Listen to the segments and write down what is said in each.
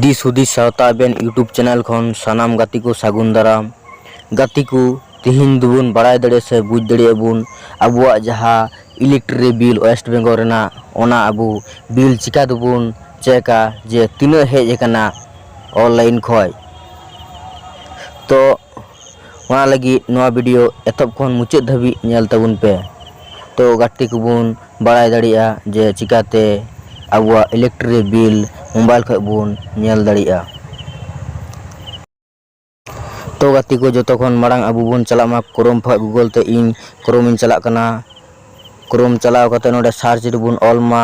ᱫᱤᱥ ᱦᱩᱫᱤᱥ ᱥᱟᱶᱛᱟ ᱟᱵᱮᱱ ᱤᱭᱩᱴᱩᱵᱽ ᱪᱮᱱᱮᱞ ᱠᱷᱚᱱ ᱥᱟᱱᱟᱢ ᱜᱟᱛᱮ ᱠᱚ ᱥᱟᱹᱜᱩᱱ ᱫᱟᱨᱟᱢ ᱜᱟᱛᱮ ᱠᱚ ᱛᱤᱦᱤᱧ ᱫᱚᱵᱚᱱ ᱵᱟᱲᱟᱭ ᱫᱟᱲᱮᱭᱟᱜᱼᱟ ᱥᱮ ᱵᱩᱡᱽ ᱫᱟᱲᱮᱭᱟᱜᱼᱟ ᱵᱚᱱ ᱟᱵᱚᱣᱟᱜ ᱡᱟᱦᱟᱸ ᱤᱞᱮᱠᱴᱨᱤ ᱵᱤᱞ ᱳᱭᱮᱥᱴ ᱵᱮᱝᱜᱚᱞ ᱨᱮᱱᱟᱜ ᱚᱱᱟ ᱟᱵᱚ ᱵᱤᱞ ᱪᱤᱠᱟᱹ ᱛᱮᱵᱚᱱ ᱪᱮᱠᱟ ᱡᱮ ᱛᱤᱱᱟᱹᱜ ᱦᱮᱡ ᱟᱠᱟᱱᱟ ᱚᱱᱞᱟᱭᱤᱱ ᱠᱷᱚᱱ ᱛᱚ ᱚᱱᱟ ᱞᱟᱹᱜᱤᱫ ᱱᱚᱣᱟ ᱵᱷᱤᱰᱤᱭᱳ ᱮᱛᱚᱦᱚᱵ ᱠᱷᱚᱱ ᱢᱩᱪᱟᱹᱫ ᱫᱷᱟᱹᱵᱤᱡ ᱧᱮᱞ ᱛᱟᱵᱚᱱ ᱯᱮ ᱛᱚ ᱜᱟᱛᱮ ᱠᱚᱵᱚᱱ ᱵᱟᱲᱟᱭ ᱫᱟᱲᱮᱭᱟᱜᱼᱟ ᱡᱮ ᱪᱤᱠᱟᱹᱛᱮ ᱟᱵᱚᱣᱟᱜ ᱤᱞᱮᱠᱴᱨᱤᱠ ᱵᱤᱞ ᱢᱳᱵᱟᱭᱤᱞ ᱠᱷᱚᱱ ᱵᱚᱱ ᱧᱮᱞ ᱫᱟᱲᱮᱭᱟᱜᱼᱟ ᱛᱚ ᱜᱟᱛᱮ ᱠᱚ ᱡᱚᱛᱚ ᱠᱷᱚᱱ ᱢᱟᱲᱟᱝ ᱟᱵᱚ ᱵᱚᱱ ᱪᱟᱞᱟᱜ ᱢᱟ ᱠᱨᱳᱢ ᱠᱷᱚᱱ ᱜᱩᱜᱚᱞ ᱛᱮ ᱤᱧ ᱠᱨᱳᱢᱤᱧ ᱪᱟᱞᱟᱜ ᱠᱟᱱᱟ ᱠᱨᱳᱢ ᱪᱟᱞᱟᱣ ᱠᱟᱛᱮᱫ ᱱᱚᱰᱮ ᱥᱟᱨᱪ ᱨᱮᱵᱚᱱ ᱚᱞ ᱢᱟ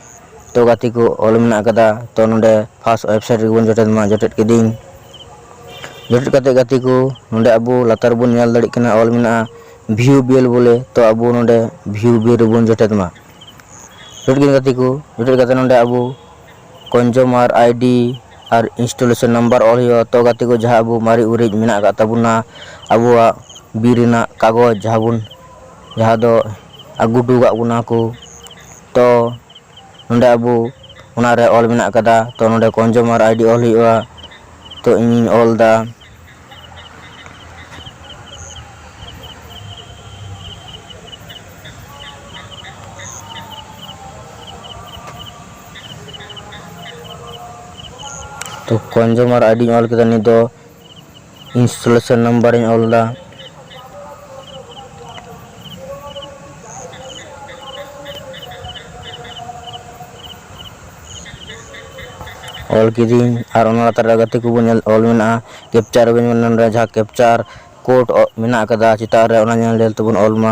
ᱛᱚ ᱜᱟᱛᱮ ᱠᱚ ᱚᱞ ᱢᱮᱱᱟᱜ ᱟᱠᱟᱫᱟ ᱛᱚ ᱱᱚᱸᱰᱮ ᱯᱷᱟᱥᱴ ᱚᱭᱮᱵᱽᱥᱟᱭᱤᱴ ᱨᱮᱜᱮ ᱵᱚᱱ ᱡᱚᱴᱮᱫ ᱢᱟ ᱡᱚᱴᱮᱫ ᱠᱤᱫᱟᱹᱧ ᱡᱚᱴᱮᱫ ᱠᱟᱛᱮᱫ ᱜᱟᱛᱮ ᱠᱚ ᱱᱚᱸᱰᱮ ᱟᱵᱚ ᱞᱟᱛᱟᱨ ᱨᱮᱵᱚᱱ ᱧᱮᱞ ᱫᱟᱲᱮᱭᱟᱜ ᱠᱟᱱᱟ ᱚᱞ ᱢᱮᱱᱟᱜᱼᱟ ᱵᱷᱤᱭᱩ ᱵᱮᱞ ᱵᱚᱞᱮ ᱛᱚ ᱟᱵᱚ ᱱᱚᱸᱰᱮ ᱵᱷᱤᱭᱩ ᱵᱮᱞ ᱨᱮᱵᱚᱱ ᱡᱚᱴᱮᱫ ᱢᱟ ᱡᱚᱴᱮᱫ ᱠᱤᱫᱟᱹᱧ ᱜᱟᱛᱮ ᱠᱚ ᱡᱚᱴᱮᱫ ᱠᱟᱛᱮᱫ ᱱᱚᱸᱰᱮ ᱟᱵᱚ ᱠᱚᱱᱡᱩᱢᱟᱨ ᱟᱭᱰᱤ ᱟᱨ ᱤᱱᱥᱴᱚᱞᱮᱥᱚᱱ ᱱᱟᱢᱵᱟᱨ ᱚᱞ ᱦᱩᱭᱩᱜᱼᱟ ᱛᱚ ᱜᱟᱛᱮ ᱠᱚ ᱡᱟᱦᱟᱸ ᱟᱵᱚ ᱢᱟᱨᱮ ᱩᱨᱤᱡ ᱢᱮᱱᱟᱜ ᱟᱠᱟᱫ ᱛᱟᱵᱚᱱᱟ ᱟᱵᱚᱣᱟᱜ ᱵᱤᱨ ᱨᱮᱱᱟᱜ ᱠᱟᱜᱚᱡᱽ ᱡᱟᱦᱟᱸ ᱵᱚᱱ ᱡᱟᱦᱟᱸ ᱫᱚ ᱟᱹᱜᱩ ᱦᱚᱴᱚ ᱟᱠᱟᱫ ᱵᱚᱱᱟ ᱠᱚ ᱛᱚ ᱱᱚᱰᱮ ᱟᱵᱚ ᱚᱱᱟ ᱨᱮ ᱚᱞ ᱢᱮᱱᱟᱜ ᱟᱠᱟᱫᱟ ᱛᱚ ᱱᱚᱰᱮ ᱠᱚᱱᱡᱚᱢᱟᱨ ᱟᱭᱰᱤ ᱚᱞ ᱦᱩᱭᱩᱜᱼᱟ ᱛᱚ ᱤᱧᱤᱧ ᱚᱞ ᱮᱫᱟ ᱛᱚ ᱠᱚᱱᱡᱚᱢᱟᱨ ᱟᱭᱰᱤᱧ ᱚᱞ ᱠᱮᱫᱟ ᱱᱤᱛ ᱫᱚ ᱤᱱᱥᱴᱚᱞᱮᱥᱚᱱ ᱱᱟᱢᱵᱟᱨ ᱤᱧ ᱚᱞ ᱮᱫᱟ᱾ ᱚᱞ ᱠᱤᱫᱤᱧ ᱟᱨ ᱚᱱᱟ ᱞᱟᱛᱟᱨ ᱨᱮ ᱜᱟᱛᱮ ᱠᱚᱵᱚᱱ ᱧᱮᱞ ᱚᱞ ᱢᱮᱱᱟᱜᱼᱟ ᱠᱮᱯᱪᱟᱨ ᱟᱵᱚᱱ ᱱᱚᱰᱮ ᱡᱟᱦᱟᱸ ᱠᱮᱯᱪᱟᱨ ᱠᱳᱰ ᱢᱮᱱᱟᱜ ᱟᱠᱟᱫᱟ ᱪᱮᱛᱟᱱ ᱨᱮ ᱚᱱᱟ ᱧᱮᱞ ᱧᱮᱞ ᱛᱮᱵᱚᱱ ᱚᱞ ᱢᱟ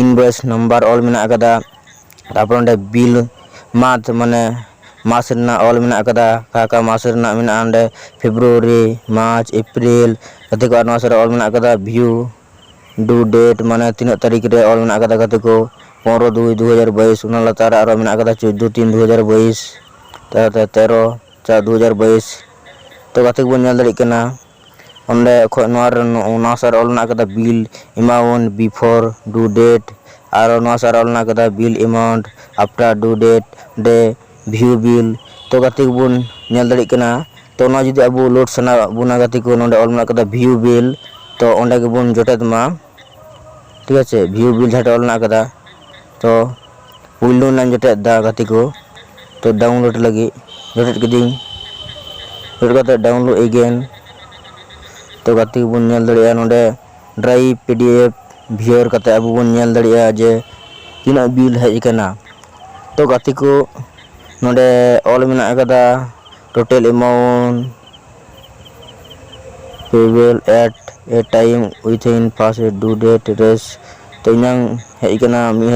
ᱤᱱᱵᱷᱚᱭᱮᱥ ᱱᱟᱢᱵᱟᱨ ᱚᱞ ᱢᱮᱱᱟᱜ ᱟᱠᱟᱫᱟ ᱛᱟᱨᱯᱚᱨ ᱚᱸᱰᱮ ᱵᱤᱞ ᱢᱟᱱᱛᱷ ᱢᱟᱱᱮ ᱢᱟᱥ ᱨᱮᱱᱟᱜ ᱚᱞ ᱢᱮᱱᱟᱜ ᱟᱠᱟᱫᱟ ᱚᱠᱟ ᱚᱠᱟ ᱢᱟᱥ ᱨᱮᱱᱟᱜ ᱢᱮᱱᱟᱜᱼᱟ ᱚᱸᱰᱮ ᱯᱷᱮᱵᱽᱨᱩᱣᱟᱨᱤ ᱢᱟᱨᱪ ᱮᱯᱨᱤᱞ ᱜᱟᱛᱮ ᱠᱚᱣᱟᱜ ᱱᱚᱣᱟ ᱥᱮᱫ ᱨᱮ ᱚᱞ ᱢᱮᱱᱟᱜ ᱟᱠᱟᱫᱟ ᱵᱷᱤᱭᱩ ᱰᱩ ᱰᱮᱴ ᱢᱟᱱᱮ ᱛᱤᱱᱟᱹᱜ ᱛᱟᱹᱨᱤᱠᱷ ᱨᱮ ᱚᱞ ᱢᱮᱱᱟᱜ ᱟᱠᱟᱫᱟ ᱜᱟᱛᱮ ᱠᱚ ᱯᱚᱱᱨᱚ ᱫᱩᱭ ᱫᱩ ᱦᱟᱡᱟᱨ ᱵᱟᱭᱤᱥ ᱚᱱᱟ ᱞᱟᱛᱟᱨ ᱨᱮ ᱟᱨᱚ ᱢᱮᱱᱟᱜ ᱟᱠᱟᱫᱟ ᱪᱳᱫᱽᱫᱳ ᱛᱤᱱ ᱫᱩ ᱦᱟᱡᱟᱨ ᱵᱟᱭᱤᱥ ᱛᱟᱭᱚᱢ ᱛᱮ ᱛᱮᱨᱚ ᱪᱟᱨ ᱫᱩ ᱦᱟᱡᱟᱨ ᱵᱟᱭᱤᱥ ᱛᱚ ᱜᱟᱛᱮ ᱠᱚᱵᱚᱱ ᱧᱮᱞ ᱫᱟᱲᱮᱭᱟᱜ ᱠᱟᱱᱟ ᱚᱸᱰᱮ ᱠᱷᱚᱡ ᱱᱚᱣᱟ ᱨᱮ ᱱᱚᱣᱟ ᱥᱟᱨ ᱚᱞ ᱢᱮᱱᱟᱜ ᱟᱠᱟᱫᱟ bill amount before due date ᱟᱨᱚ ᱱᱚᱣᱟ ᱥᱟᱨ ᱚᱞ ᱢᱮᱱᱟᱜ ᱟᱠᱟᱫᱟ bill amount after due date ᱰᱮ ᱵᱷᱤᱭᱩ ᱵᱤᱞ ᱛᱚ ᱜᱟᱛᱮ ᱠᱚᱵᱚᱱ ᱧᱮᱞ ᱫᱟᱲᱮᱭᱟᱜ ᱠᱟᱱᱟ ᱛᱚ ᱱᱚᱣᱟ ᱡᱩᱫᱤ ᱟᱵᱚ ᱞᱳᱰ ᱥᱟᱱᱟ ᱵᱚᱱᱟ ᱜᱟᱛᱮ ᱠᱚ ᱱᱚᱰᱮ ᱚᱞ ᱢᱮᱱᱟᱜ ᱟᱠᱟᱫᱟ ᱵᱷᱤᱭᱩ ᱵᱤᱞ ᱛᱚ ᱚᱸᱰᱮ ᱜᱮᱵᱚᱱ ᱡᱚᱴᱮᱫ ᱢᱟ ᱴᱷᱤᱠ ᱟᱪᱷᱮ ᱵᱷᱤᱭᱩ ᱵᱤᱞ ᱡᱟᱦᱟᱸᱴᱷᱮᱱ ᱚᱞ ᱢᱮᱱᱟᱜ ᱟᱠᱟᱫᱟ ᱛᱚ ᱯᱩᱭᱞᱩ ᱨᱮᱱᱟᱜ ᱤᱧ ᱡᱚᱴᱮᱫ ᱮᱫᱟ ᱜᱟᱛᱮ ᱠᱚ ᱛᱚ ᱰᱟᱣᱩᱱᱞᱳᱰ ᱞᱟᱹᱜᱤᱫ ᱡᱚᱴᱮᱫ ᱠᱤᱫᱟᱹᱧ ᱡᱚᱴᱮᱫ ᱠᱟᱛᱮ ᱰᱟᱣᱩᱱᱞᱳᱰ ᱮᱜᱮᱱ ᱛᱚ ᱜᱟᱛᱮ ᱠᱚᱵᱚᱱ ᱧᱮᱞ ᱫᱟᱲᱮᱭᱟᱜᱼᱟ ᱱᱚᱰᱮ drive P D F viewer ᱠᱟᱛᱮ ᱟᱵᱚ ᱵᱚᱱ ᱧᱮᱞ ᱫᱟᱲᱮᱭᱟᱜᱼᱟ ᱡᱮ ᱛᱤᱱᱟᱹᱜ ᱵᱤᱞ ᱦᱮᱡ ᱟᱠᱟᱱᱟ ᱛᱚ ᱜᱟᱛᱮ ᱠᱚ ᱱᱚᱰᱮ ᱚᱞ ᱢᱮᱱᱟᱜ ᱟᱠᱟᱫᱟ total amount payable at a time within first due date ᱨᱮᱥ ᱛᱚ ᱤᱧᱟᱝ ᱦᱮᱡ ᱟᱠᱟᱱᱟ ᱢᱤᱫ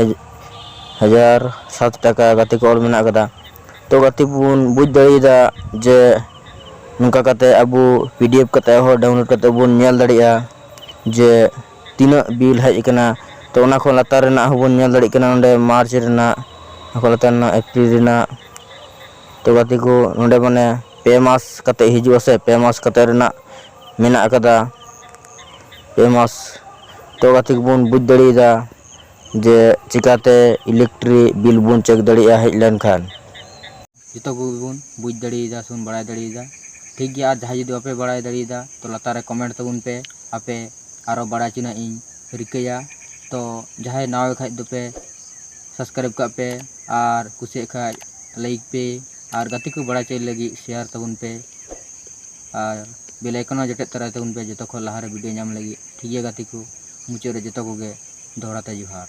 ᱦᱟᱡᱟᱨ ᱥᱟᱛ ᱴᱟᱠᱟ ᱜᱟᱛᱮ ᱠᱚ ᱚᱞ ᱢᱮᱱᱟᱜ ᱟᱠᱟᱫᱟ ᱛᱚ ᱜᱟᱛᱮ ᱠᱚᱵᱚᱱ ᱵᱩᱡᱽ ᱫᱟᱲᱮᱭᱟᱫᱟ ᱡᱮ ᱱᱚᱝᱠᱟ ᱠᱟᱛᱮ ᱟᱵᱚ ᱯᱤ ᱰᱤ ᱮᱯᱷ ᱠᱟᱛᱮ ᱦᱚᱸ ᱰᱟᱣᱩᱱᱞᱳᱰ ᱠᱟᱛᱮ ᱵᱚᱱ ᱧᱮᱞ ᱫᱟᱲᱮᱭᱟᱜᱼᱟ ᱡᱮ ᱛᱤᱱᱟᱹᱜ ᱵᱤᱞ ᱦᱮᱡ ᱟᱠᱟᱱᱟ ᱛᱚ ᱚᱱᱟ ᱠᱷᱚᱱ ᱞᱟᱛᱟᱨ ᱨᱮᱱᱟᱜ ᱦᱚᱸ ᱵᱚᱱ ᱧᱮᱞ ᱫᱟᱲᱮᱭᱟᱜ ᱠᱟᱱᱟ ᱱᱚᱰᱮ ᱢᱟᱨᱪ ᱨᱮᱱᱟᱜ ᱚᱱᱟ ᱠᱷᱚᱱ ᱞᱟᱛᱟᱨ ᱨᱮᱱᱟᱜ ᱮᱯᱨᱤᱞ ᱨᱮᱱᱟᱜ ᱛᱚ ᱜᱟᱛᱮ ᱠᱚ ᱱᱚᱰᱮ ᱢᱟᱱᱮ ᱯᱮ ᱢᱟᱥ ᱠᱟᱛᱮ ᱦᱤᱡᱩᱜᱼᱟ ᱥᱮ ᱯᱮ ᱢᱟᱥ ᱠᱟᱛᱮ ᱨᱮᱱᱟᱜ ᱢᱮᱱᱟᱜ ᱟᱠᱟᱫᱟ ᱯᱮ ᱢᱟᱥ ᱛᱚ ᱜᱟᱛᱮ ᱠᱚᱵᱚᱱ ᱵᱩᱡᱽ ᱫᱟᱲᱮᱭᱟᱫᱟ ᱡᱮ ᱪᱤᱠᱟᱛᱮ ᱤᱞᱮᱠᱴᱨᱤ ᱵᱤᱞ ᱵᱚᱱ ᱪᱮᱠ ᱫᱟᱲᱮᱭᱟᱜᱼᱟ ᱦᱮᱡ ᱞᱮᱱᱠᱷᱟᱱ ᱡᱚᱛᱚ ᱠᱚᱜᱮ ᱵᱚᱱ ᱵᱩᱡᱽ ᱫᱟᱲᱮᱭᱟᱫᱟ ᱥᱮᱵᱚᱱ ᱵᱟᱲᱟᱭ ᱫᱟᱲᱮᱭᱟᱫᱟ ᱴᱷᱤᱠ ᱜᱮᱭᱟ ᱟᱨ ᱡᱟᱦᱟᱸᱭ ᱡᱩᱫᱤ ᱵᱟᱯᱮ ᱵᱟᱲᱟᱭ ᱫᱟᱲᱮᱭᱟᱫᱟ ᱛᱚ ᱞᱟᱛᱟᱨ ᱨᱮ ᱠᱚᱢᱮᱱᱴ ᱛᱟᱵᱚᱱ ᱯᱮ ᱟᱯᱮ ᱟᱨᱚ ᱵᱟᱲᱟᱭ ᱦᱚᱪᱚ ᱨᱮᱱᱟᱜ ᱤᱧ ᱨᱤᱠᱟᱹᱭᱟ ᱛᱚ ᱡᱟᱦᱟᱸᱭ ᱱᱟᱣᱟ ᱜᱮ ᱠᱷᱟᱱ ᱫᱚᱯᱮ ᱥᱟᱵᱥᱠᱨᱟᱭᱤᱵᱽ ᱠᱟᱜ ᱯᱮ ᱟᱨ ᱠᱩᱥᱤᱭᱟᱜ ᱠᱷᱟᱱ ᱞᱟᱭᱤᱠ ᱯᱮ ᱟᱨ ᱜᱟᱛᱮ ᱠᱚ ᱵᱟᱲᱟᱭ ᱦᱚᱪᱚᱭ ᱞᱟᱹᱜᱤᱫ ᱥᱮᱭᱟᱨ ᱛᱟᱵᱚᱱ ᱯᱮ ᱟᱨ ᱵᱮᱞ ᱟᱭᱠᱚᱱ ᱦᱚᱸ ᱡᱚᱴᱮᱫ ᱛᱚᱨᱟᱭ ᱛᱟᱵᱚᱱ ᱯᱮ ᱡᱚᱛᱚ ᱠᱷᱚᱱ ᱞᱟᱦᱟᱨᱮ ᱵᱷᱤᱰᱤᱭᱳ ᱧᱟᱢ ᱞᱟᱹᱜᱤᱫ ᱴᱷᱤᱠ ᱜᱮᱭᱟ ᱜᱟᱛᱮ ᱠᱚ ᱢᱩᱪᱟᱹᱫ ᱨᱮ ᱡᱚᱛᱚ ᱠᱚᱜᱮ ᱫᱚᱦᱲᱟ ᱛᱮ ᱡᱚᱦᱟᱨ